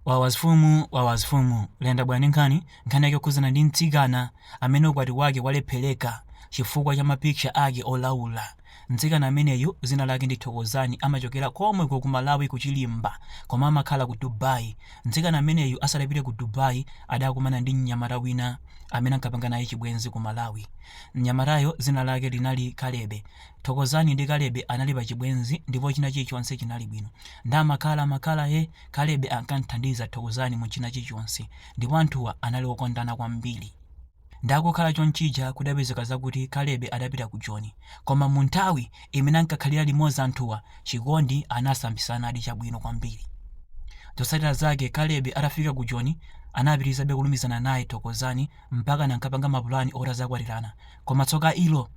Wawa zfumu wawa zfumu lenda bwani nkhani nkhani yake yokhuzana ndi mtsikana amene ukwati wake walephereka chifukwa cha ma picture ake olaula. Mtsikana ameneyu zina lake ndi Thokozani amachokera komweko ku Malawi ku Chilimba koma amakhala ku Dubai. Mtsikana ameneyu asadapite ku Dubai adakumana ndi mnyamata wina amene ankapanga naye chibwenzi ku Malawi. Mnyamatayo zina lake linali Kalebe. Thokozani ndi Kalebe anali pa chibwenzi ndipo china chilichonse chinali bwino. Nde amakhala ee amakhala ee. Kalebe ankam'thandiza Thokozani mu china chilichonse ndipo anthuwa anali okondana kwambiri. Ndakukhala chonchija kudapezeka zakuti Kalebe adapita ku Joni koma mu nthawi imene ankakhalira limodzi anthuwa chikondi anasambisanadi chabwino kwambiri. Zotsatira zake Kalebe atafika ku Joni anapitirizabe kulumizana naye Thokozani mpakana ankapanga mapulani oti azakwatirana koma tsoka ilo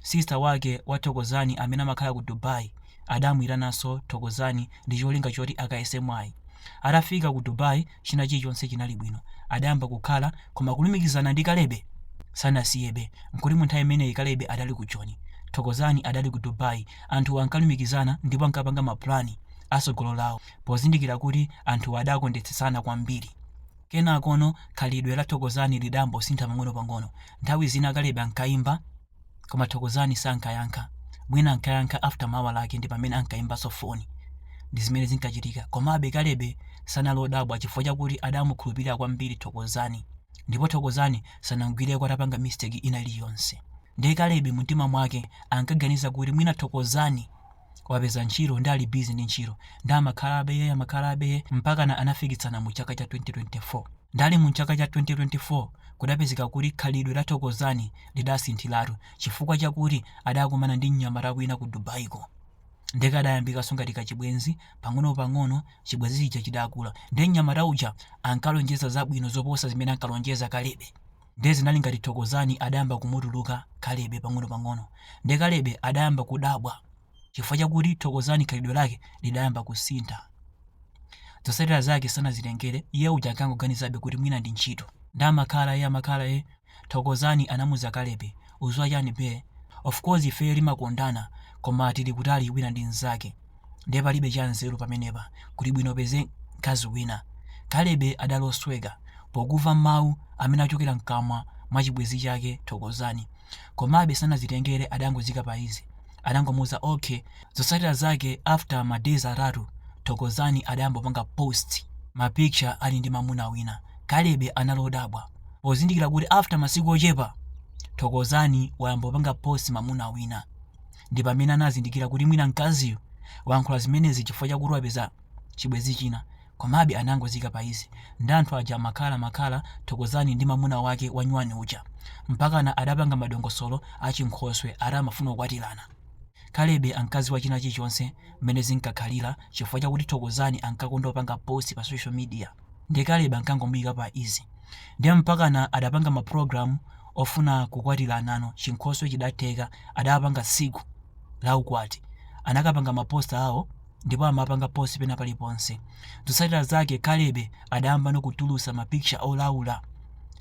Sister wake wa Thokozani amene amakhala ku Dubai adamuitananso Thokozani ndi cholinga choti akayese mwayi. Atafika ku Dubai china chilichonse chinali bwino. Adayamba kukhala koma kulumikizana ndi Kalebe sanasiyebe. Nkuti mu nthawi imeneyi Kalebe adali ku Joni. Thokozani adali ku Dubai. Anthuwa ankalumikizana ndipo ankapanga mapulani a tsogolo lawo pozindikira kuti anthuwa adakondetsetsana kwambiri. Kenakono khalidwe la Thokozani lidayambosintha pang'onopang'ono. Nthawi zina Kalebe ankaimba koma Thokozani sankayankha. Mwina ankayankha after mawa lake ndi pamene ankaimbanso foni. Ndi zimene zinkachitika. Komabe Kalebe sanali odabwa chifukwa chakuti adamukhulupirira kwambiri Thokozani. Ndipo Thokozani sanamgwireko atapanga mistake ina iliyonse. Ndiye Kalebe mumtima mwake ankaganiza kuti mwina Thokozani wapeza ntchito nde ali busy ndi ntchito nde amakhala ee amakhala ee mpakana anafikitsana mu chaka cha 2024 nde ali mu chaka cha 2024 kudapezeka kuti khalidwe la thokozani lidasinthiratu chifukwa chakuti adakumana ndi mnyamata wina ku dubaiko nde kadayambikanso ngati kachibwenzi pang'onopang'ono chibwenzi chija chidakula ndi mnyamata uja ankalonjeza zabwino zoposa zimene ankalonjeza kalebe Ndiye zinali ngati Thokozani adayamba kumutuluka Kalebe pang'onopang'ono. Ndiye Kalebe adayamba kudabwa chifukwa chakuti Thokozani khalidwe lake lidayamba kusintha. Zotsatira zake sanazitengere, iye uja ankangoganizabe kuti mwina ndi ntchito. Nde amakhala ee amakhala ee, Thokozani anamuuza Kalebe, uziwa chani bae, of course ife ndi iwe timakondana koma tili kutali wina ndi mzake. ndiye palibe chanzeru pamenepa kuli bwino upeze mkazi wina kalebe adali osweka pokumva mawu amene achokera mkamwa mwa chibwezi chake thokozani komabe sanazitengere adangoziika pa easy adangomuuza okay zotsatira zake after ma days atatu thokozani adayambopanga post ma picture ali ndi mamuna wina kalebe anali odabwa pozindikira kuti after masiku ochepa thokozani wayambopanga post mamuna wina Ndi pamene anazindikira kuti mwina mkaziyu wayankhula zimenezi chifukwa chakuti wapeza chibwenzi china. Komabe anangozika pa izi. Ndiye anthu aja amakhalamakhala Thokozani ndi mamuna wake wanyuwani uja. Mpakana adapanga madongosolo a chinkhoswe ati amafuna kukwatirana. Kalebe ankadziwa china chilichonse mmene zinkakhalira chifukwa chakuti Thokozani ankakonda kupanga post pa social media. Ndiye Kalebe ankangomuika pa izi. Ndiye mpakana adapanga mapulogalamu ofuna kukwatiranano, chinkhoswe chidatheka, adapanga tsiku la ukwati. Anakapanga maposter awo ndipo amapanga post pena paliponse. Zotsatira zake Kalebe adayambano kutulutsa ma picture olaula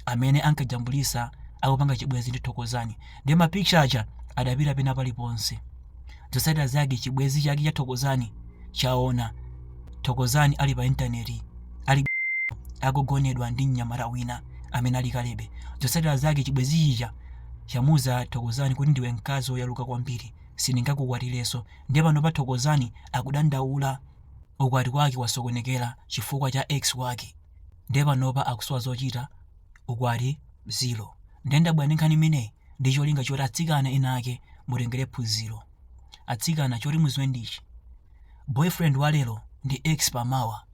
amene ankajambulitsa akupanga chibwenzi ndi Thokozani. Ndiye ma picture aja adapita pena paliponse. Zotsatira zake chibwenzi chake cha Thokozani chaona Thokozani ali pa intaneti ali akugonedwa ndi mnyamata wina amene ali Kalebe. Zotsatira zake chibwenzi chija chamuuza Thokozani kuti ndiwe mkazi woyaluka kwambiri, sindingakukwatirenso. Ndiye panopa Thokozani akudandaula, ukwati wake wasokonekera chifukwa cha ex wake. Ndiye panopa akusowa zochita. ukwati 0 nde ndabwera ndi nkhani imeneyi ndi cholinga choti atsikana ena ake mutengere phunziro atsikana choti muziwe ndichi boyfriend wa lero ndi ex pa mmawa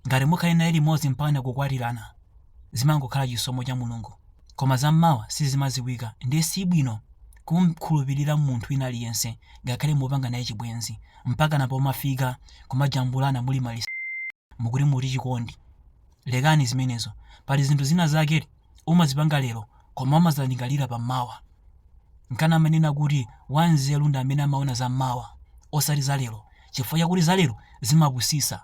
ngati mukhale naye limodzi mpakana kukwatirana zimangokhala chisomo cha mulungu koma za mmawa sizimaziwika ndiye sibwino kumkhulupirira munthu wina aliyense ngakhale mupanga naye chibwenzi mpakana pomafika kumajambulana muli maliseche mukuti muti chikondi Lekani zimenezo. Pali zinthu zina zake umazipanga lero koma umazalingalira pa mmawa. Nkana amanena kuti wanzeru ndi amene amaona za mmawa osati za lero chifukwa chakuti za lero zimapusisa.